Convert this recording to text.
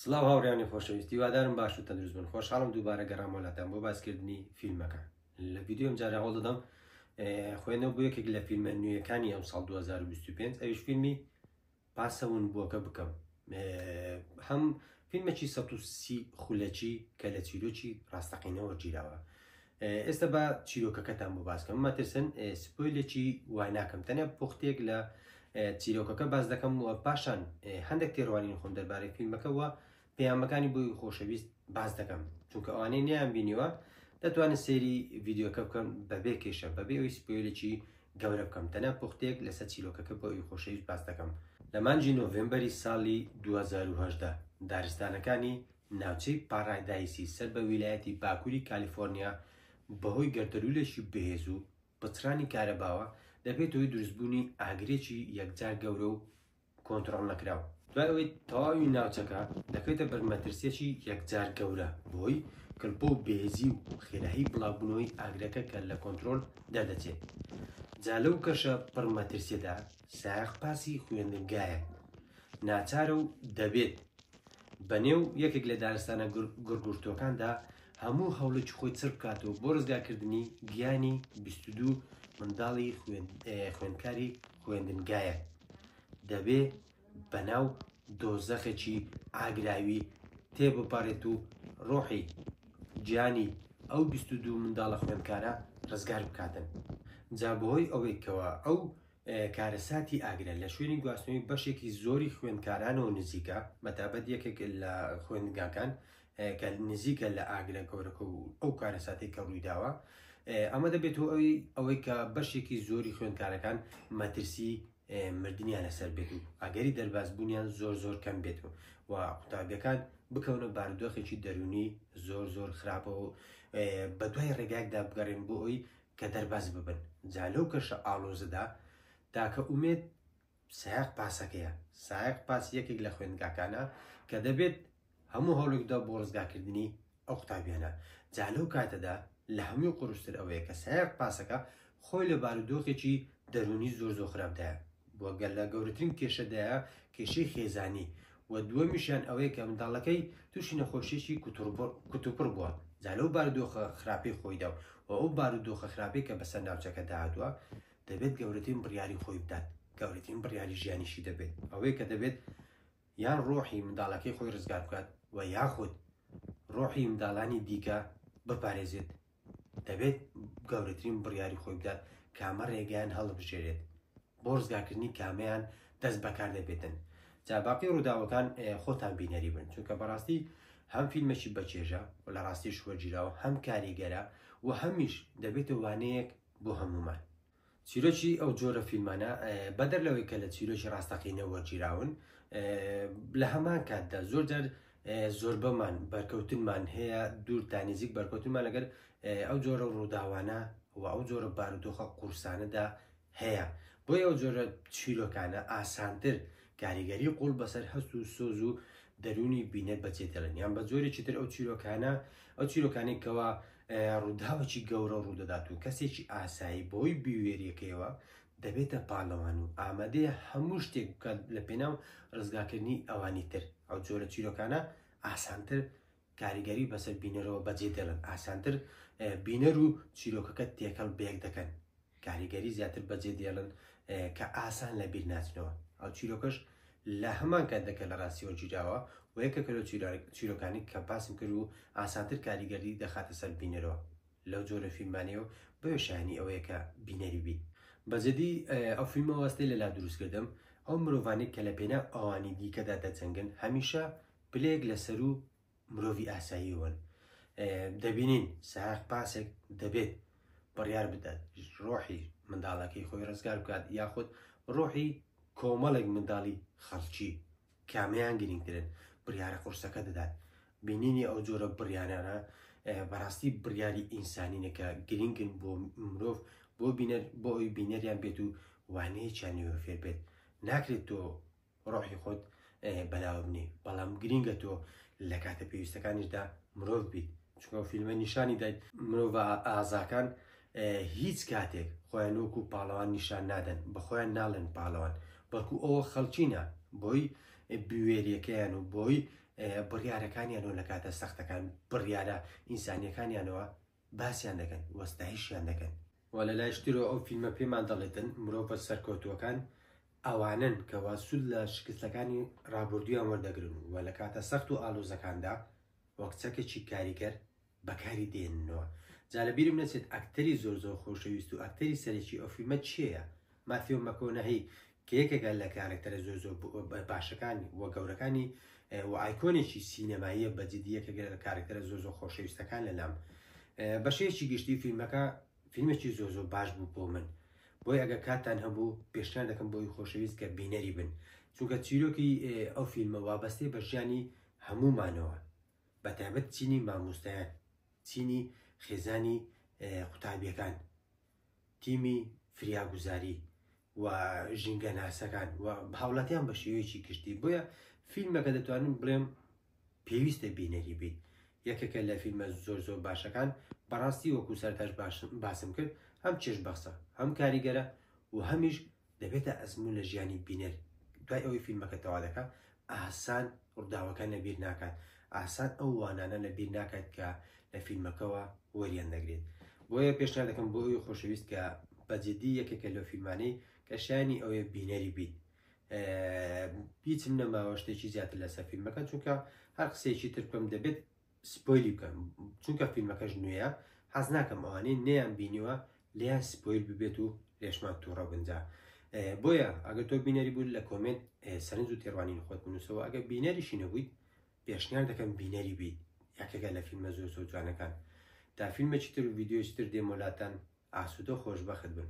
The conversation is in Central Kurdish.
سڵاو هاوڕیانی خۆشەویست هیوادارم باش و تەندروست بن خۆشحاڵم دووبارە گەڕام وڵاتان بۆ باسکردنی فیلمەکە لە ویددیۆم جارە هەوڵ دەدەم خوێنەوە بۆ یەکێک لە فیلمە نوێیەکانی ئەم ساڵ 2025 ئەوش فیلمی پاسەون بووەکە بکەم هەم فیلمێکی سە سی خولەکی کە لە چیرۆکی ڕاستەقینەوە گیراوە ئێستا با چیرۆکەکەتان بۆ باس کەم مەترسن سپۆیلێکی وای ناکەم تەنیا پوختێک لە چیرۆکەکە باس دەکەم و پاشان هەندێک تێڕوانین خۆم دەربارەی فیلمەکە وە پەیامەکانی بۆی خۆشەویست باس دەکەم چونکە ئەوانەی نیان بینیوە دەتوانن سێری ڤیددیوکە بکەن بەبێ کێشە بەبێ ئەوی سپۆیلێکی گەورە بکەم تەنیا پوختێک لەسەر چیرۆکەکە بۆ ئەوی خۆشەویست باس دەکەم لە مانجی نۆڤێمبەری ساڵی 2010 دارستانەکانی ناوچەی پارادایسی سەر بە ویلایەتی باکووری کالیفۆرنیا بەهۆی گەردەلوولێکی بەهێز و پچڕانی کارەباوە دەبێتە هۆی دروستبوونی ئاگرێکی یەکجار گەورە و کۆنتڕۆڵنەکراو، دوای ئەوەی تەواوی ناوچەکە دەکەوێتە بەر مەترسییەکی یەکجار گەورە بەهۆی کلپە و بێهێزی و خێرایی بڵاوبوونەوەی ئاگرەکە کە لە کۆنترۆل دەردەچێت، جا لەو کەشە پڕ مەترسییەدا سایەق پاسی خوێندنگایەک ناچارە و دەبێت بەنێو یەکێک لە دارستانە گڕگورتووەکاندا هەموو هەوڵێکی خۆی چڕ بکاتەوە بۆ ڕزگارکردنی گیانی بیست و دوو منداڵی خوێندکاری خوێندنگایە دەبێ بەناو دۆزەخێکی ئاگراوی تێبپەڕێت و ڕۆحی گیانی ئەو بیست و دوو منداڵە خوێندکارە ڕزگار بکاتن جا بەهۆی ئەوەیکەوە ئەو کارەساتی ئاگرە لە شوێنی گواستنەوەی بەشێکی زۆری خوێندکارانەوە نزیکە مەتابەت یەکێک لە خوێندگاکان کە نزیکە لە ئاگرە گەورەکە و ئەو کارەساتی کە ڕوویداوە ئەمە دەبێت و ئەوی ئەوەی کە بەشێکی زۆری خوێندکارەکان مەترسی مردنیان لەسەر بێت و ئەگەری دەربازبوونیان زۆر زۆر کەم بێت و و قوتابیەکان بکەونە باردۆخێکی دەرونی زۆر زۆر خراپەوە بە دوای ڕێگایکدا بگەڕێن بۆ ئەوی کە دەربەست ببن، جا لەو کەشە ئاڵۆزەدا تاکە ئومێد سایەق پاسەکەیە، سایەق پاس یەکێک لە خوێندگاکانە کە دەبێت هەموو هەوڵێک بدات بۆ ڕزگارکردنی ئەو قوتابیانە، جا لەو کاتەدا لە هەمووی قورستر ئەوەیە کە سایەق پاسەکە خۆی لە بارودۆخێکی دەروونی زۆر زۆر خراپدایە و گەلە گەورەترین کێشەدایە کێشەی خێزانی و دووەمیشیان ئەوەیە کە منداڵەکەی تووشی نەخۆشییەکی کوتوپڕ بووە جا لەو بارودۆخە خراپەی خۆیدا و و ئەو بارودۆخە خراپەی کە بەسەر ناوچەکەدا هاتووە دەبێت گەورەترین بڕیاری خۆی بدات گەورەترین بڕیاری ژیانیشی دەبێت ئەوەیە کە دەبێت یان ڕۆحی منداڵەکەی خۆی ڕزگار بکات و یاخود ڕۆحی منداڵانی دیکە بپارێزێت دەبێت گەورەترین بڕیاری خۆی بدات کامە ڕێگەیان هەڵبژێرێت بۆ ڕزگارکردنی کامەیان دەست بەکار دەبێتن جا باقی ڕووداوەکان خۆتان بینەری بن چونکە بەڕاستی هەم فیلمێکی بەچێژە و لە ڕاستیش وەرگیراوە هەم کاریگەرە و هەمیش دەبێتە وانەیەک بۆ هەمومان چیرۆکی ئەو جۆرە فیلمانە بەدەر لەوەی کە لە چیرۆکی ڕاستەقینە وەرگیراون لە هەمان کاتدا زۆر جار زۆربەمان بەرکەوتنمان هەیە دوور تا نزیک بەرکەوتنمان لەگەر ئەو جۆرە ڕووداوانە و ئەو جۆرە بارودۆخە قورسانەدا هەیە بۆی ئەو جۆرە چیرۆکانە ئاسانتر کاریگەری قوڵ بەسەر هەست و سۆز و دەروونی بینەر بە جێدەڵێن یان بە جۆرێکی تر ئەو چیرۆکانە ئەو چیرۆکانی کەەوە ڕووداوەکی گەورە ڕوودەدات و کەسێکی ئاسایی بۆی بیوێریەکەیەوە دەبێتە پاڵەوان و ئامادەیە هەموو شتێک بکات لە پێناو ڕزگاکردنی ئەوانی تر ئەو جۆرە چیرۆکانە ئاسانتر کاریگەری بەسەر بینەرەوە بەجێ دێڵن ئاسانتر بینەر و چیرۆکەکە تێکەڵ بەیەک دەکەن کاریگەری زیاتر بەجێ دێڵن کە ئاسان لە بیر ناچنەوە ئەو چیرۆکەش لە هەمان کات دەکە لە ڕاستیەوە گیراوە و یەکە کە لە چیرۆکانی کە باسم کرد و ئاسانتر کاریگەری دەخاتە سەر بینەرەوە لەو جۆرە فیلمانێ و بۆیە شایانی ئەوەیە کە بینەری بیت بەجدی ئەو فیلمەوەستەی لەلا دروستکردم ئەو مرۆڤانی کە لە پێنا ئەوانی دیکەدا دەجەنگن هەمیشە پلەیەک لە سەروو مرۆڤی ئاساییەوەن. دەبینین سایەق پاسێک دەبێت بڕیار بدات ڕۆحی منداڵەکەی خۆی ڕزگار بکات یاخود ڕۆحی کۆمەڵێک منداڵی خەڵکی کامیان گرنگترن بڕیارە قورسەکە دەدات بینینی ئەو جۆرە بڕیارانە بەڕاستی بڕیاری ئینسانینەکە گرنگن بۆ مرۆڤ بۆ بینەر بۆ ئەوی بینەریان بێت و وانەیەکیان نوێ فێر بێت ناکرێت تۆ ڕۆحی خۆت بەلاوە نی بەڵام گرینگە تۆ لە کاتە پێویستەکانیشدا مرۆڤ بیت چکۆ فیلمە نیشانی دایت مرۆڤ ئازاکان هیچ کاتێک خۆیان وەکو پاڵەوان نیشان نادەن بەخۆیان ناڵێن پاڵەوان بەڵکو ئەوە خەڵچینە بۆی بوێریەکەیان و بۆی بڕیارەکانیانەوە لە کاتە سەختەکان بڕیارە ئینسانیەکانیانەوە باسیان دەکەن و ستایشیان دەکەن. وە لە لایش ترەوە ئەو فیلمە پێمان دەڵێتن مرۆڤە سەرکەوتووەکان ئەوانەن کە وا سوود لە شکستەکانی ڕابوردوویان وەردەگرن و لە کاتە سەخت و ئالۆزەکاندا وەک چەکێکی کاریگەر بەکاری دێننەوە جا لە بیرم نەچێت ئەکتەری زۆر زۆر خۆشەویست و ئەکتەری سەرەکی ئەو فیلمە کێیە ماتیۆ مەکۆنەهی کە یەکێکە لە کارەکتەرە زۆر زۆر باشەکان و گەورەکانی و ئایکۆنێکی سینەماییە بە جدی یەکێک لە کارەکتەرە زۆر زۆر خۆشەویستەکان لە لام بەشێکی گشتی فیلمەکە فیلمێکی زۆر زۆر باش بوو بۆ من بۆی ئەگە کاتان هەبوو پێشنان دەکەم بۆی خۆشەویست کە بینەری بن چونکە چیرۆکی ئەو فیلمە وابەستێ بە ژیانی هەمومانەوە بە تایبەت چینی مامۆستایان چینی خێزانی قوتابیەکان تیمی فریاگوزاری و ژینگەناسەکان و هاوڵاتیان بە شێوەیەکی گشتی بۆیە فیلمەکە دەتوانم بڵێم پێویستە بینەری بیت یەکێکە لە فیلمە زۆر زۆر باشەکان بەڕاستی وەکو سەرتاش باشن باسم کرد هەم چێش بەخسە هەم کاریگەرە و هەمیش دەبێتە ئەزموون لە ژیانی بینەر، دوای ئەوەی فیلمەکە تەوا دەکا ئاهسان ڕووداوەکان لە بیر ناکات، ئاهسان ئەو وانانە لە بیر ناکات کە لە فیلمەکەوە وەریان دەگرێت. بۆیە پێشنیار دەکەم بۆ ئەوی خۆشەویست کە بە جدی یەکێکە لەو فیلمانەی کە شایەنی ئەوەیە بینەری بیت. هیچم نەماوە شتێکی زیاتر لەسەر فیلمەکە چونکە هەر قسەیەکی تر بکەم دەبێت سپۆیلی بکەم چونکە فیلمەکەش نوێیە حەز ناکەم ئەوانەی نەیان بینیوە لێیان سپۆیل ببێت و لێشمان تووڕە بنجا بۆیە ئەگە تۆ بینەری بوو لە کۆمنت سەرنج و تێڕوانین خۆت بنووسەوە ئەگە بینەریشی نەبوویت پێشنیار دەکەم بینەری بیت یەکێکە لە فیلمە زۆر زۆر جوانەکان تا فیلمێکی تر و ڤیددیۆی تر دێمۆلاتەن ئاسوودە خۆشببخت بن.